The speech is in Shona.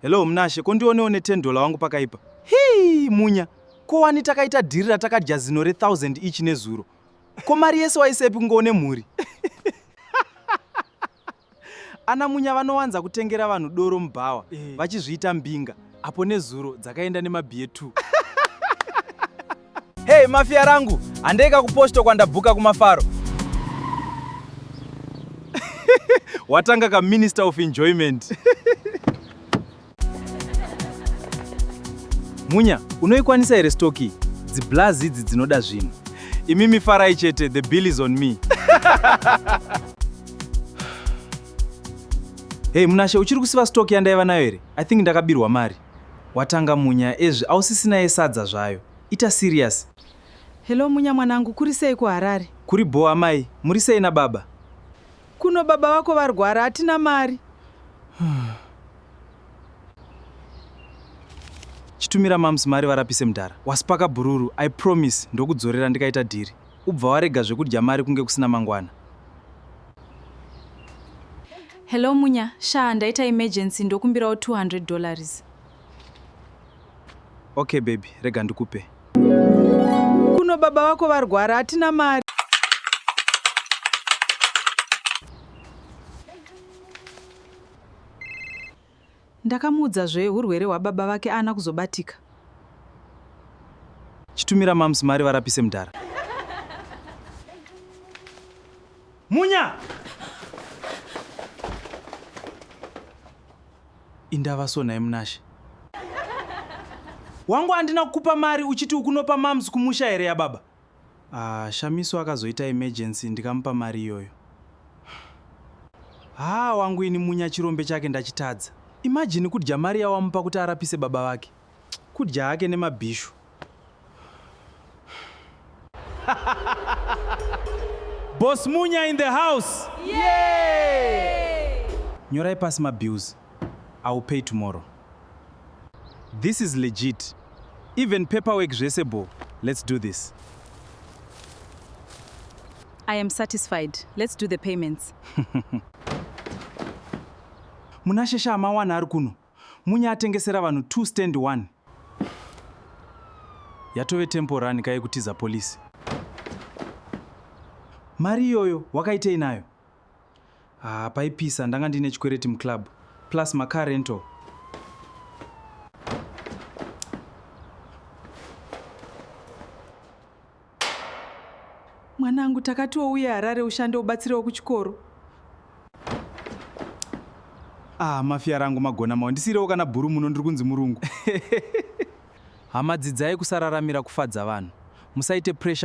Hello Mnashe, ko ndionewo ne 10 dollar wangu pakaipa. Hii, Munya, ko wani takaita dhiri ratakadya zino re 1000 each nezuro. Ko mari yese waisepi kunge une mhuri? Ana Munya vanowanza kutengera vanhu doro mubhawa eh. vachizviita mbinga apo nezuro dzakaenda nemabhiye 2. Hey mafia rangu, handei kakuposto kwandabhuka kumafaro. Watanga ka minister of enjoyment. Munya, unoikwanisa here stock iyi? Dziblaz idzi dzinoda zvinhu. Imi mifarai chete, the bill is on me. Hey Munashe, uchiri kusiva stock yandaiva nayo here? I think ndakabirwa mari. Watanga Munya ezvi ausisina yesadza zvayo. Ita serious. Hello Munya mwanangu kuri sei kuHarare? Kuri bho amai, muri sei nababa? Kuno baba vako varwara hatina mari. Chitumira moms mari varapise mdara. Waspaka bhururu, I promise ndokudzorera ndikaita dhiri. ubva warega zvekudya mari kunge kusina mangwana. Hello Munya, shaa ndaita emergency ndokumbirawo 200 dollars. Okay baby, rega ndikupe. Kuno baba vako varwara, hatina mari. Ndakamuudza zve hurwere hwababa vake aana kuzobatika. Chitumira moms mari varapise mdhara. Munya! Indava so nhai Munashe. Wangu andina kukupa mari uchiti ukunopa moms kumusha here yababa? Ahh Shamiso akazoita emergency ndikamupa mari iyoyo. Haa wangu ini Munya chirombe chake ndachitadza. Imagine kudya mari yawamupa kuti arapise baba vake. Kudya hake nemabhishu. Boss Munya in the house. Nyorai pasi mabills. I will pay tomorrow. This is legit. Even paperwork zvese bho. Let's do this. I am satisfied. Let's do the payments. Munashesha amawana ari kuno. Munya atengesera vanhu 2 stand 1. Yatove tempo run kaye kutiza police. Mari iyoyo wakaitei nayo? Ah, paipisa ndanga ndine chikwereti muclub plus macar rental. Mwanangu takatiwo uye Harare ushande ubatsirewo kuchikoro. Ah, mafia rangu magona mawo ndisirewo kana bhuru muno ndiri kunzi murungu. Hama dzidzai kusararamira kufadza vanhu. Musaite pressure